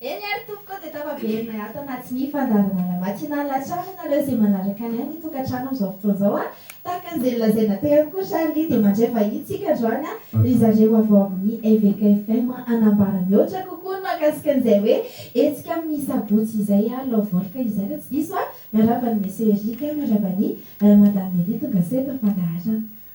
Eny ary tompoko dia tafaverinay ato anaty ny fandaharanana matinal hatrany ianareo izay manaraka ny ahy ny tokantrano amin'izao fotoana izao a! Tahaka an'izay nolazaina teo ihany koa ry Charly dia mandray vahiny tsika androany a! ry zareo avy ao amin'ny Eveka FM hanambara mihoatra kokoa ny mahakasika an'izay hoe hetsika amin'ny sabotsy izay a! Love Volka izay raha tsy diso a! Miarahaba an'i Monsieur Eric a! Miarahaba an'i Madame Nelly tonga sao eto am-pandaharana.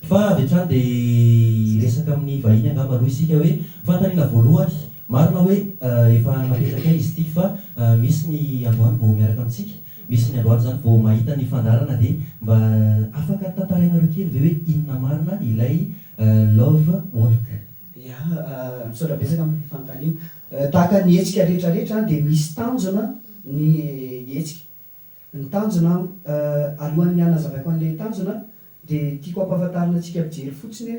Fa avy hatrany dia hiresaka amin'ny vahiny angamba aloha isika hoe, fanontaniana voalohany, marina hoe efa napetrakai izy ity fa misy ny androany vao miaraka amintsika, misy ny androany izany vao mahita ny fandaharana dia mba afaka tantarainareo kely ve hoe inona marina ilay Love Walk? Ya, misaotra betsaka amin'ny fanontaniana. Tahaka ny hetsika rehetra rehetra dia misy tanjona ny hetsika. Ny tanjona an, alohan'ny hanazavako an'ilay tanjona dia tiako hampahafantarina antsika mpijery fotsiny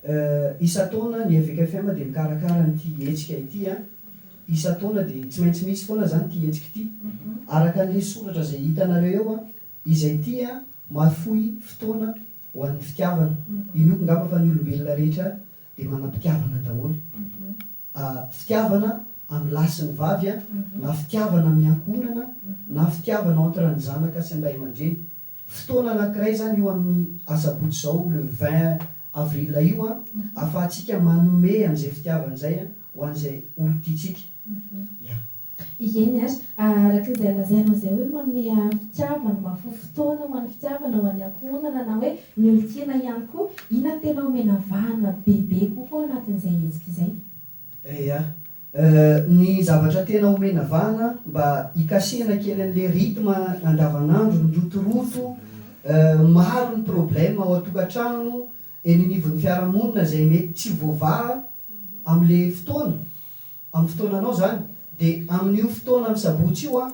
hoe isan-taona ny Eveka FM dia mikarakara an'ity hetsika ity an, isan-taona dia tsy maintsy misy foana izany ity hetsika ity. Araka ny lesoratra izay hitanareo eo an, izay ity an, mahafoy fotoana ho an'ny fitiavana. Inoako ngamba fa ny olombelona rehetra dia manam-pitiavana daholo. fitiavana amin'ny lahy sy ny vavy na fitiavana amin'ny ankohonana na fitiavana entre ny zanaka sy ny ray aman-dreny. Fotoana anankiray izany io amin'ny asabotsy izao le vingt avril io ahafahantsika manome an'izay fitiavana izay ho an'izay olon-tiantsika. Eny ary, araka izay lazainao izay hoe manome fitiavana, mahafoy fotoana ho an'ny fitiavana, ho an'ny ankohonana na hoe ny olon-tiana ihany koa, inona no tena omena vahana bebe kokoa ao anatin'izay hetsika izay? Eya, ny zavatra tena omena vahana mba hikasihana kely an'ilay rythme andavanandro, ny rotoroto, maro ny problème ao an-tokantrano, eny anivon'ny fiarahamonina izay mety tsy voavaha amin'ilay fotoana. Amin'ny fotoananao izany dia amin'io fotoana ny sabotsy io an,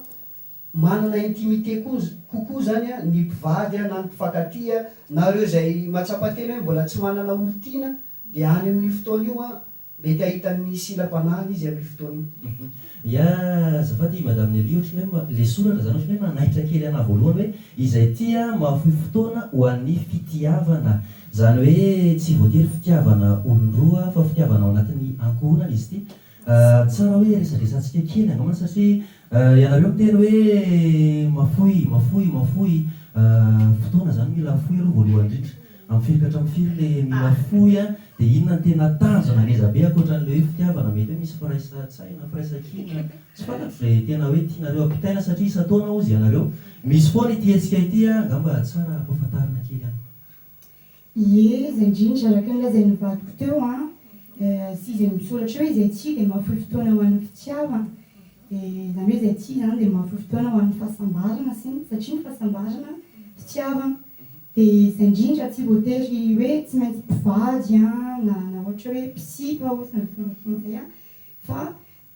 manana intimité kokoa izany an ny mpivady an na ny mpifankatia na ireo izay matsapa tena hoe mbola tsy manana olon-tiana dia any amin'io fotoana io an mety ahita ny silam-panahiny izy amin'io fotoana io. Ya, azafady i Madame Nelly ohatran'ny hoe le soratra zany ohatran'ny hoe nanaitra kely anah voalohany hoe izay tia mahafoy fotoana ho an'ny fitiavana. Izany hoe tsy voatery fitiavana olon-droa fa fitiavana ao anatin'ny ankohonana izy ity. Tsara hoe resadresantsika kely angambany satria ianareo miteny hoe mafoy, mafoy, mafoy. Fotoana izany mila afoy aloha voalohany indrindra. Amin'ny firy ka hatramin'ny firy ilay mila afoy an? Dia inona no tena tanjona ngeza be ankoatra an'ilay hoe fitiavana? Mety hoe misy firaisan-tsaina, firaisan-kina, tsy fantatro izay tena hoe tianareo ampitaina satria isan-taona hozy ianareo misy foana ity hetsika ity an! Angamba tsara ampahafantarina kely amiko. Ie, izay indrindra, araka ny nolazain'ny vadiko teo an, sy izay misoratra eo, izay tsihy dia mahafoy fotoana ho an'ny fitiavana, dia izany hoe izay tsihy izany dia mahafoy fotoana ho an'ny fahasambarana sy ny, satria ny fahasambarana fitiavana, dia izay indrindra, tsy voatery hoe tsy maintsy mpivady an, na ohatra hoe mpisipa ohatry ny finofiana izay an, fa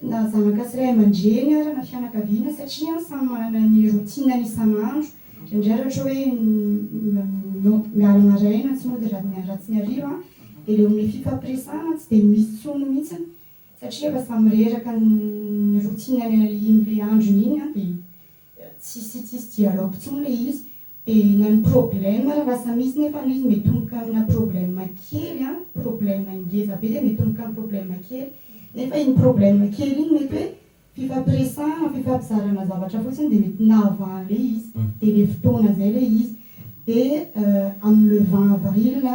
na zanaka sy ray aman-dreny ary na fianakaviana satria samy manana ny routine-ny isan'andro, indraindray raha ohatra hoe miala maraina tsy mody raha tsy ny hariva dia ilay omena fifampiresahana tsy dia misy intsony mihitsy satria efa samy reraka ny routine-ny iny androny iny dia Tsisy tsisy dialogue intsony le izy de na ny problème ary lasa misy nefa le izy mitomboka amina problème kely an, problème ngeza be de mitomboka am problème kely nefa iny problème kely iny mety hoe fifampiresahana fifampizarana zavatra fotsiny de mety nahavaan le izy de le fotoana zay le izy de am le vingt avril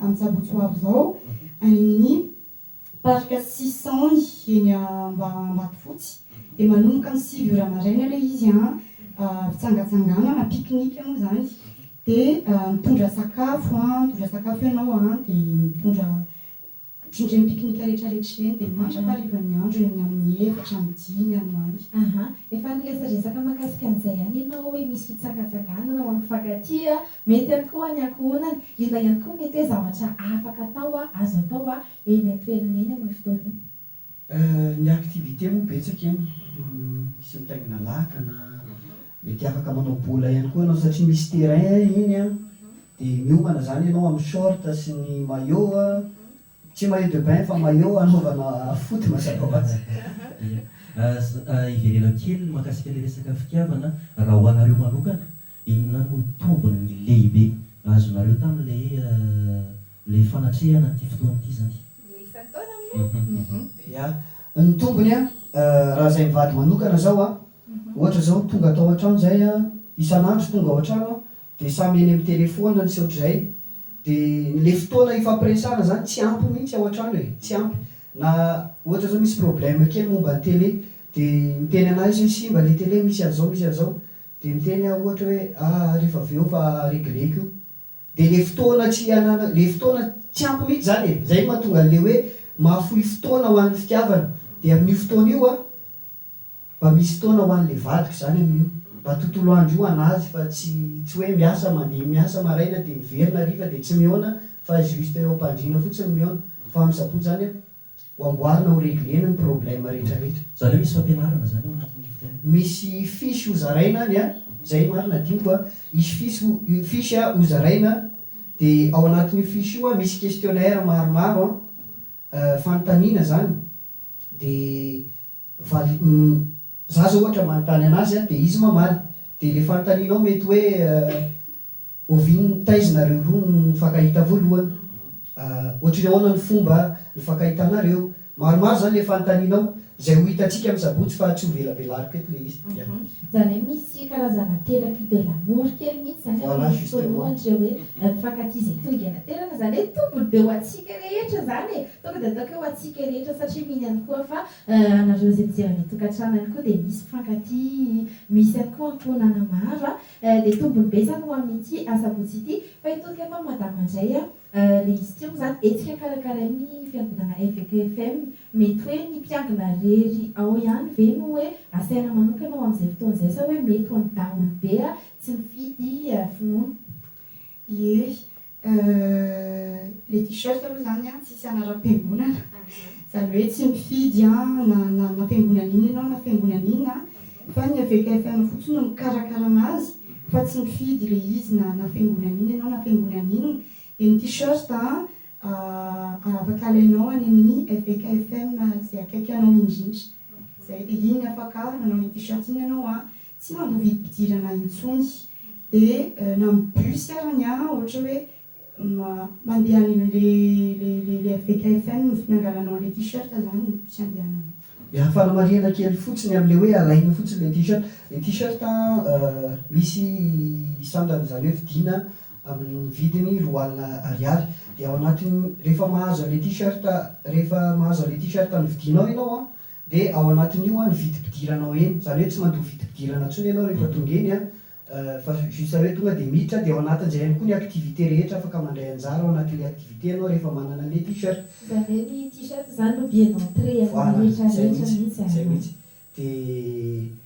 am tsabotsy ho avy zao any aminy Parc Sisany eny Ambatofotsy dia manomboka amin'ny sivy ora maraina aloha izy an, fitsangatsanganana, pique-nique moa izany, dia mitondra sakafo an, mitondra sakafo ianao an, dia mitondra ohatran'ireny pique-nique rehetrarehetra ireny, dia mandrakarivan'ny andro eny amin'ny efatra amby dimy any ho any. Ahaa, efa niresaresaka mahakasika an'izay ihany ianao hoe misy fitsangatsanganana ao amin'ny mpifankatia, Mety ihany koa ny ankohonany. Inona ihany koa mety hoe zavatra afaka atao, azo atao, eny an-toerana eny amin'io fotoana io? Ny activités moa betsaka eny, misy mitaingina lakana, mety afaka manao bola ihany koa ianao satria misy terrain iny an, dia miomana izany ianao amin'ny short sy ny maillot, tsy maillot de bain fa maillot anaovana foot mazava ho azy. Dia hiverena kely ny mahakasika ilay resaka fitiavana, raha ho anareo manokana Inona no tombony ny lehibe azonareo tamin'ilay ilay fanatrehana an'ity fotoana ity izany? Ilay isan-taona moa? Ia. Ny tombony an, raha izay mivady manokana izao an, ohatra izao tonga tao an-trano izay an, isan'andro tonga ao an-trano an, dia samy eny amin'ny telefaonina ny sy ohatr'izay, dia ilay fotoana hifampiresahana izany tsy ampy mihitsy ao an-trano e, tsy ampy. Na ohatra izao misy problème kely momba ny télé dia miteny an'ahy izy hoe simba ilay télé, misy an'izao, misy an'izao. Dia miteny aho ohatra hoe ah ary efa avy eo fa regleko io. Dia ilay fotoana tsy hananako, ilay fotoana tsy ampy mihitsy izany e. Izay no mahatonga an'ilay hoe mahafoy fotoana ho an'ny fitiavana. Dia amin'io fotoana io aho mba misy fotoana ho an'ilay vadiko izany amin'io. Mba tontolo andro io ho an'azy fa tsy tsy hoe miasa mandeha miasa maraina dia miverina hariva dia tsy mihaona fa juste eo am-pandriana fotsiny mihaona. Fa misabotsy izany aho. Ho amboarina ho reglena ny problème rehetra rehetra. Zany hoe misy fampianarana zany ao anatin'ny fotoana. Misy fiche ho zaraina any a, zay no marina diniko a, hisy fiche ho fiche a ho zaraina de ao anatin'io fiche io a misy questionnaire maromaro a, fanontaniana zany de Vali, Humm za zao ohatra manontany anazy an dia izy mamaly. Dia ilay fanontanianao mety hoe oviana ny thèse nareo roa no nifankahita voalohany? Ahh ohatry ny ahoana ny fomba nifankahitanareo? Maromaro izany ilay fanontanianao. Izay ho hitantsika amin'ny sabotsy fa tsy ho velabelariko eto ilay izy. Ahh izany hoe misy karazana thérapie de l'amour kely mihitsy izany ao amin'ny fotoana ohatra hoe mifankatia izay tonga ianaterana izany hoe tombony be ho antsika rehetra izany e! Tonga dia ataoko eo ho antsika rehetra satria mino ihany koa fa anareo izay mijery any an-tokantrano ihany koa dia misy mpifankatia, misy ihany koa ankohonana maro a! dia tombony be izany ho amin'ity asabotsy ity fa hitodika eto amin'i Madama indray a! le izy ity moa izany hetsika karakarain'ny fiangonana Eveka FM, mety hoe ny mpiangona irery ao ihany ve no hoe asaina manokana ho amin'izay fotoana izay sa hoe mety ho an'ny daholobe a! tsy mifidy finoana. Ie, Euh, le t-shirt aloha zany an, tsisy anaram-piangonana, zany hoe tsy mifidy an, na na fiangonana inona ianao na fiangonana inona an, fa ny avec FM fotsiny no mikarakara anazy, fa tsy mifidy le izy na na fiangonana inona ianao na fiangonana inona, dia ny t-shirt an ah afaka alainao any amin'ny avec FM izay akaiky anao indrindra, zay dia iny afaka manao iny t-shirt iny ianao an, tsy mandoa vidim-pidirana intsony dia na amin'ny bus ary ny an ohatra hoe mandeha any le le FVKFM no nangalanao an'ilay t-shirt izany ny bus andehananao. Ny fanamarihana kely fotsiny amin'ilay hoe alaina fotsiny ilay t-shirt, ilay t-shirt misy sandrany izany hoe vidiana amin'ny vidiny roa alina ariary dia ao anatin'ny rehefa mahazo an'ilay t-shirt rehefa mahazo an'ilay t-shirt novidianao ianao an Dia ao anatin'io ny vidim-pidiranao eny, izany hoe tsy mandoa vidim-pidirana intsony ianao rehefa tonga eny an, fa juste hoe tonga dia miditra, dia ao anatin'izay ihany koa ny activités rehetra afaka mandray anjara ao anatin'ilay activités ianao rehefa manana an'ilay t-shirt. Izany hoe ny t-shirt izany no billet d'entrée an'ilay rehetra rehetra mihitsy an. Voilà, izay mihitsy, dia.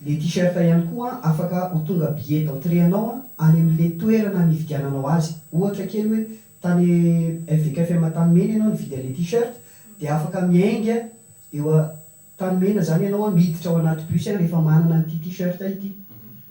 Le t-shirt ihany koa afaka ho tonga billet d'entrée anao any amin'le toerana nividiananao azy. Ohatra kely hoe tany FVKFM Antanimena ianao nividy an'le t-shirt dia afaka miainga eo Antanimena zany ianao miditra ao anaty bus rehefa manana an'ity t-shirt ity.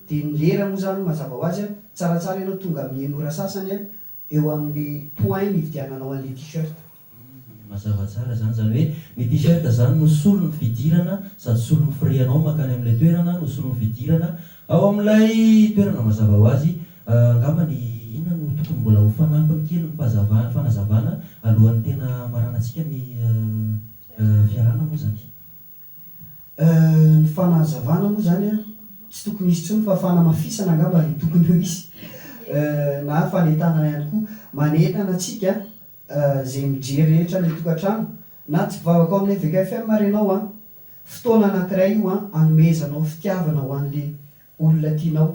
Dia ny lera moa zany mazava ho azy tsaratsara ianao tonga amin'ny enora sasany eo amin'ny point nividiananao an'le t-shirt. Hum, mazava tsara zany, zany hoe ny t-shirt zany no solon'ny fidirana sady solon'ny firianao mankany amin'ilay toerana no solon'ny fidirana ao amin'ilay toerana mazava ho azy, angamba ny inona no tokony mbola ho fanampiny kely ny fahazavana, fanazavana alohan'ny tena hamaranantsika ny fiarahana moa zany. Euh ny fanazavana moa zany an tsy tokony hisy tsony fa fanamafisana angamba no tokony ho hisy euh na fanentanana ihany koa manentana antsika euh zay mijery rehetra le tokatrano na tsy mpivavaka ao amin'ny Eveka FM ary ianao an fotoana anakiray io an anomezanao fitiavana ho an'le olona tianao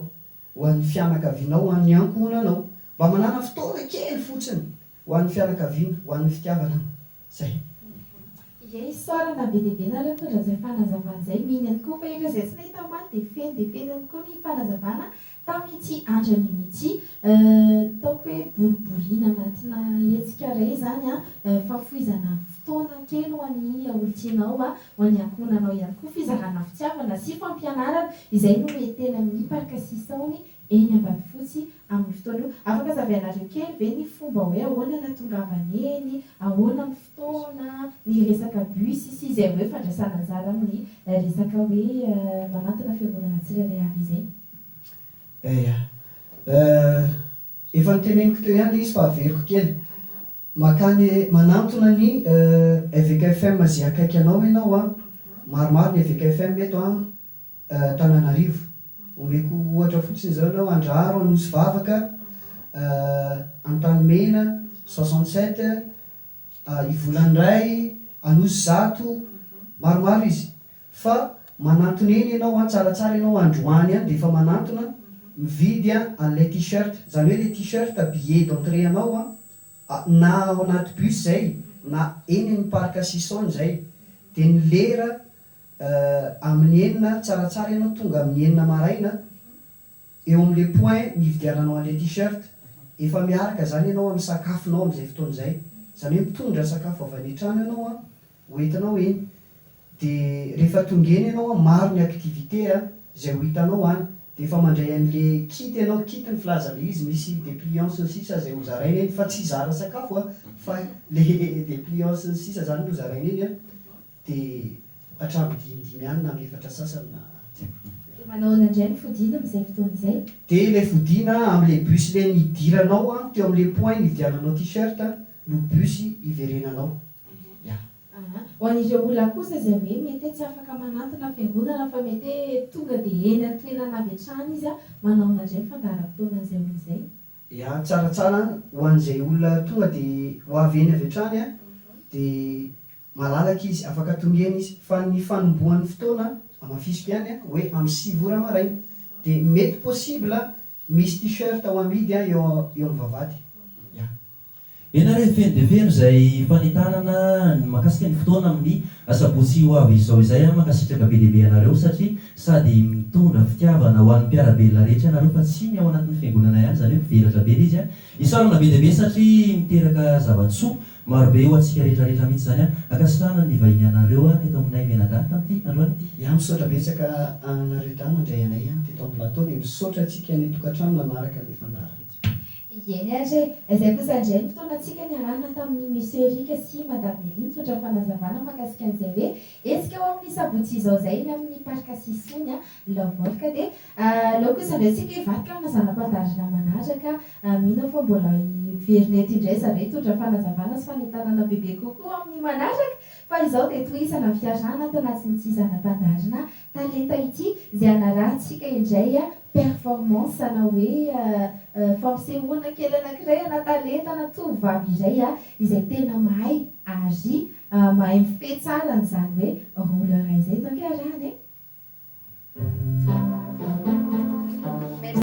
ho an'ny fianakavianao ho an'ny ankohonanao mba manana fotoana kely fotsiny ho an'ny fianakaviana ho an'ny fitiavana Zay. Ie isaorana na be dia be nareo mitondra zay fanazavana zay, mino ihany koa fa ireo izay tsy nahita omaly dia feno dia feno ihany koa ny fanazavana tamin'ity andro anio ity. Ataoko hoe boriborina anatina hetsika iray izany an, fahafoizana fotoana kely ho an'ny olon-tianao, ho an'ny ankohonanao ihany koa, fizarana fitiavana sy fampianarana, izay no mety tena miparka sisony eny Ambatofotsy Amin'io fotoana io, afaka hazavainareo kely ve ny fomba hoe ahoana natongavany eny, ahoana ny fotoana, ny resaka bus sy izay hoe fandraisana anjara amin'ny resaka hoe manantona fiangonana tsirairay avy izay? Eya. Efa noteneniko teo ihany ilay izy fa averiko kely. Makany manantona ny Eveka FM ze akaiky anao enao a! Maromaro ny Eveka FM eto an Tananarivo. Omeko ohatra fotsiny izao enao Andraharo Anosivavaka, Antanimena, soixante sept, Ivolanindray, Anosizato, maromaro izy. Fa manantona eny enao an tsaratsara enao androany any dia efa manantona mividy an'ilay T-shirt. Zany hoe le T-shirt billet d'entrée anao an Na ao anaty bus izay na eny amin'ny parc Sison izay dia ny lera amin'ny enina tsaratsara ianao tonga amin'ny enina maraina eo amin'ilay point nividiananao an'ilay t-shirt. Efa miaraka izany ianao amin'ny sakafonao amin'izay fotoana izay. Izany hoe mitondra sakafo avy any an-trano ianao an, ho entinao eny de rehefa tonga eny ianao an maro ny activité a zay ho hitanao any de efa mandray anle kit ianao kit ny filazanle izy misy depliance ny sisa zay ho zaraina eny fa tsy hizara sakafo a fa le depliance ny sisa zany no zaraina eny a de hatramin'ny dimy dimy any na amin'ny efatra sasany na De manao ahoana indray ny fodiana amin'izay fotoana izay? De ilay fodiana a amin'ilay bus le nidiranao a teo amin'ilay point nividiananao t-shirt no bus hiverenanao. Mpamboly Aha. Ho an'ireo olona kosa izay hoe mete tsy afaka manantona fiangonana fa mete tonga dia eny an-toerana avy hatrany izy manaona indray ny fandaharam-potoana izay olona izay? Ya tsaratsara ho an'izay olona tonga dia ho avy eny avy hatrany dia malalaka izy afaka tonga eny izy fa ny fanombohan'ny fotoana hamafisiko ihany hoe amin'ny sivy ora maraina dia mety possible misy t-shirt ho amidy eo amin'ny vavahady ya. Ianareo hifeno dia feno izay fanentanana ny mahakasika ny fotoana amin'ny asabotsy ho avy izao izay an! Mankasitraka be dia be anareo satria sady mitondra fitiavana ho an'ny mpiara-belona rehetra ianareo fa tsy ny ao anatin'ny fiangonana ihany izany hoe mivelatra be ilay izy an! Isaorana be dia be satria miteraka zava-tsoa maro be ho antsika rehetra rehetra mihitsy izany an! Ankasitrahana ny nivahinianareo teto aminay Menagà tamin'ity androany ity. Ya misaotra betsaka anareo dahy nandray anay teto am plateau dia misaotra antsika any an-tokantrano nanaraka ilay fandaharantsika. Ieny ary e! Izay kosa indray ny fotoanantsika niarahana tamin'i Monsieur Eric sy Madame Nelly nitsotra fanazavana mahakasika an'izay hoe hetsika ho amin'ny sabotsy izao izay eny amin'ny Parc Sisony Laovol ka dia aleo kosa indray isika hivadika amina zana-pandaharana manaraka. Mino aho fa mbola hiverina eto indray zareo hitondra fanazavana sy fanentanana bebe kokoa amin'ny manaraka fa izao dia tohizana ny fiarahana ato anatin'ity zana-pandaharana Talenta ity izay hanarahantsika indray performance ana hoe fampisehoana kely anankiray ana talenta ana tovovavy iray izay tena mahay ary mahay mifehy tsara an'izany hoe roller izay. Izany kay iarahana e!